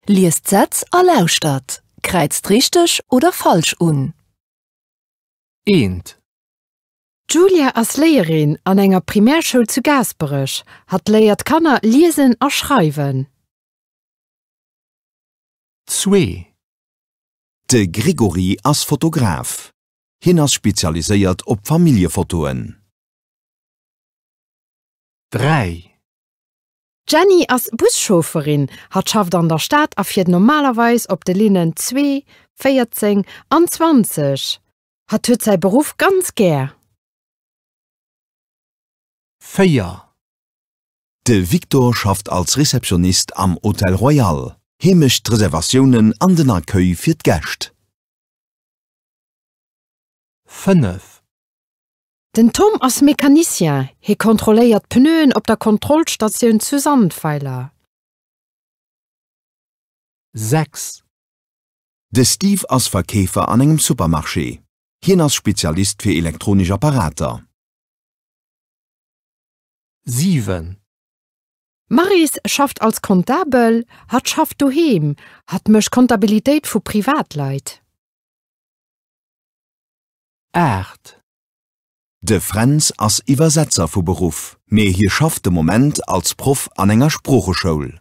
Liest d'Sätz a lauschtert. Kräizt richteg oder falsch un. Eent. D'Julia ass Léierin an enger Primärschoul zu Gaasperech. Hatt léiert d'Kanner liesen a schreiwen. Zwee. De Grégory ass Fotograf. Hien ass spezialiséiert op Familljefotoen. Dräi. D'Jenny ass Buschaufferin. Hatt schafft an der Stad a fiert normalerweis op de Linnen 2, 14 an 20. Hatt huet säi Beruff ganz gär. 4. De Victor schafft als Receptionnist am Hotel Royal. Hie mécht d'Reservatiounen an den Accueil fir d'Gäscht. 5. Den Tom ass Mecanicien, hie kontrolléiert d'Pneuen op der Kontrollstatioun zu Sandweiler. 6. De Steve ass Verkeefer an engem Supermarché. Hien ass Spezialist fir elektronesch Apparater. 7. D'Maryse schafft als Kontabel, hatt schafft doheem, hatt mécht Kontabilitéit vu Privatleit. 8. De Fränz ass Iwwersetzer vu Beruff, mee hie schafft de Moment als Proff an enger Sproocheschoul.